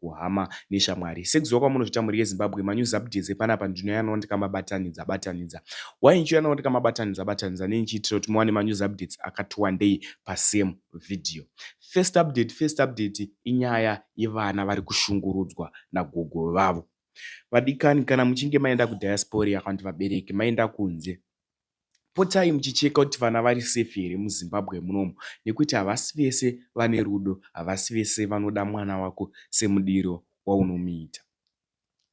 kuhama neshamwari sekuziva kwamunozvita mhuri yezimbabwe manews updates epanapa ndinoyanawo ndikamabatanidza batanidza why ndichiyanawo ndikamabatanidza batanidza nei ndichiitira kuti muwane manews updates akati wandei pasame video first update first update inyaya yevana vari kushungurudzwa nagogo vavo vadikani kana muchinge maenda kudiaspora kana kuti vabereki maenda kunze potai muchicheka kuti vana vari safe here muzimbabwe munomu nekuti havasi vese vane rudo havasi vese vanoda mwana wako semudiro waunomuita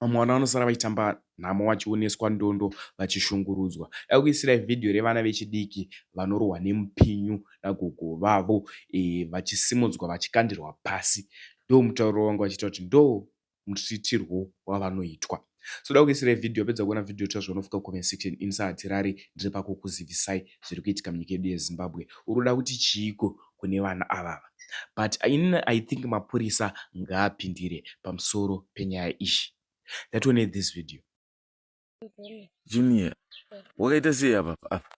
vamwe vana vanosara vachitamba nhamo vachioneswa ndondo vachishungurudzwa dakuisirai vhidhiyo revana vechidiki vanorohwa nemupinyu nagogo vavo e, vachisimudzwa vachikandirwa pasi ndo mutauro wangu vachita kuti ndo muitirwo wavanoitwa so da kuisira video pedza kuona video tira zvaunofika comment section ini sahatirari ndiri pako kuzivisai zviri kuitika munyika yedu yezimbabwe uri kuda kuti chiiko kune vana avava but ini i think mapurisa ngaapindire pamusoro penyaya iyi that one this video junior wakaita sei apa apa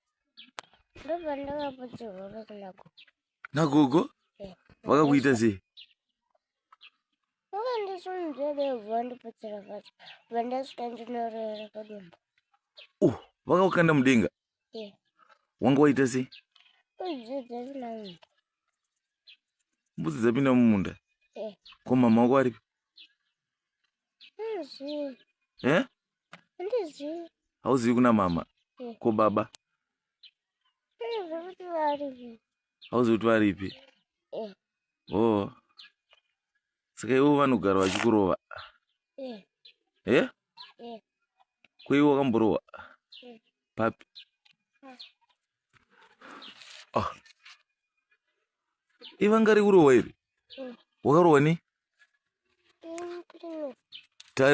ndobva ndakapoterwa vakuna gogo nagogo Eh. vakakuita sei vakandisunzvedevhu vandipotsera pasi bva ndasvika ndinorera padumbu uh vakakukanda mudenga Eh. wanga waita sei udzidza zvina munhu mbudzi dzapinda mumunda Eh. ko mama wako aripi eh? hauzivi kuna mama eh. ko baba hauzivi kuti varipi eh. o oh. saka ivo vanogara vachikurova eh? eh? ko ivo wakamborowa papi ah. ivanga rekurohwa iri wakarohwa nei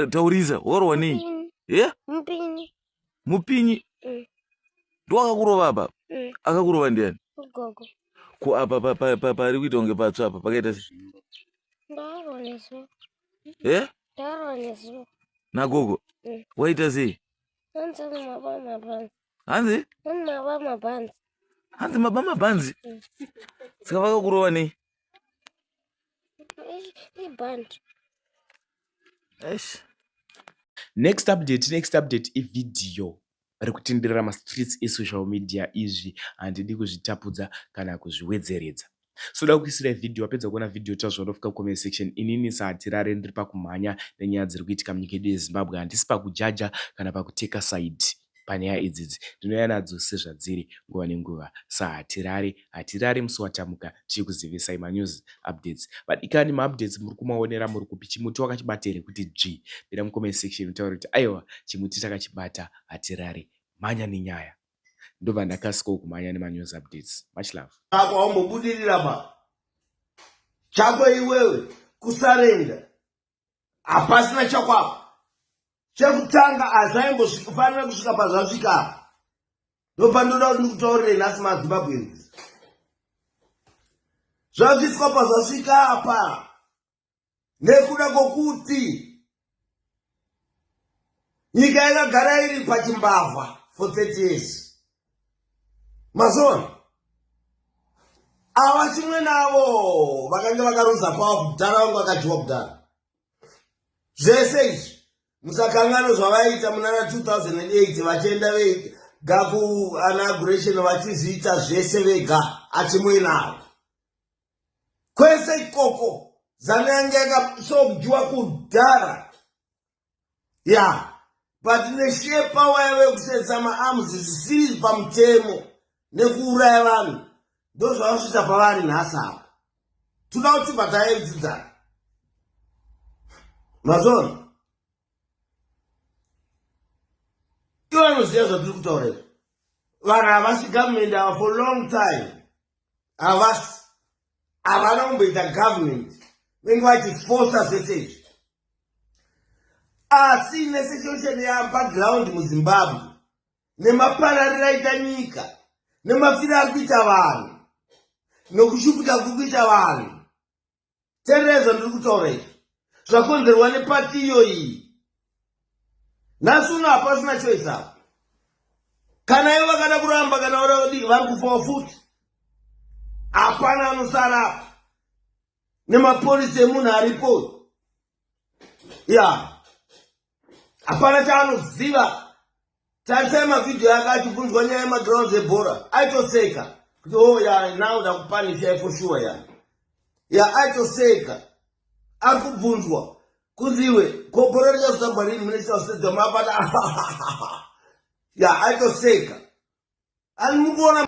taurisa wakarohwa nei ye mupinyi mm. ndowakakurova apa mm. akakurova ndiani ko apa pari kuita kunge patsva apa pakaita se e nagogo mm. waita sei hanzi hanzi maba mabhanzi saka vakakurova nei next update next update ividhiyo ri kutenderera mastreets esocial media izvi handidi kuzvitapudza kana kuzviwedzeredza soda kuisira vhidhiyo wapedza kuona vhidhiyo ita zvaunofika kucomment section inini sahatirare ndiri pakumhanya nenyaya dziri kuitika munyika yedu yezimbabwe handisi pakujaja kana pakuteka side panyaya idzidzi ndinouya nadzo sezvadziri nguva nenguva sahatirare hatirare musi watamuka tichikuzivisai manews updates vadikani maupdates muri kumaonera muri kupi chimuti wakachibata here kuti dzvi pira mucomment section utaure kuti aiwa chimuti takachibata hatirare mhanya nenyaya ndobva ndakasikawo kumhanya nemanews updates much love ako aumbobudirira ma chako iwewe kusarenda hapasina chakwako chekutanga hazvaimbosvikafanira kusvika pazvasvika apa ndopandoda kuti ndikutaurirei nhasi mazimbabweans zvasvitswa pazvasvika apa nekuda kwokuti nyika yakagara iri pachimbavha for 30 years mazona ava chimwe navo vakange vakaruza kwavo kudhara vangu vakadyiwa kudhara zvese izvi musakangano zvavaita munana 2008 vachienda vega gaku anauguration vachizviita zvese vega achimuinavo kwese ikoko zanu yange yakasokudiwa kudhara ya but neshie pawa yave kusetsa maarms zvisiri pamutemo nekuuraya vanhu ndozvavasvitsa pavari nhasi apa toda kuti bvatayaidzidzana mazona ivo anoziva zvatiri kutaura izvi vanhu havasi government ava for long time havasi havana kumboita government venge vachifosa zvese izvi asi nesituation yabackground muzimbabwe nemapararira aita nyika nemafiro ari kuita vanhu nokushukuta kuri kuita vanhu terera zvandiri kutaura izvi zvakonzerwa nepati iyoyi nhasi uno hapasina choice apo kana ivo vakada kuramba kana vada kudii vari kufawo futi hapana anosara apo nemapurisi emunhu aripo ya hapana chaanoziva tarisai mavhidhiyo yake achibvunzwa nyaya yemagrounds ebhora aitoseka kuti o oh, ya now ndakupanisha for sure ya ya aitoseka ari kubvunzwa kunzi iwe kobhora richazotambwa rini mune chitausedzwa mapata ya aitoseka ani mukuona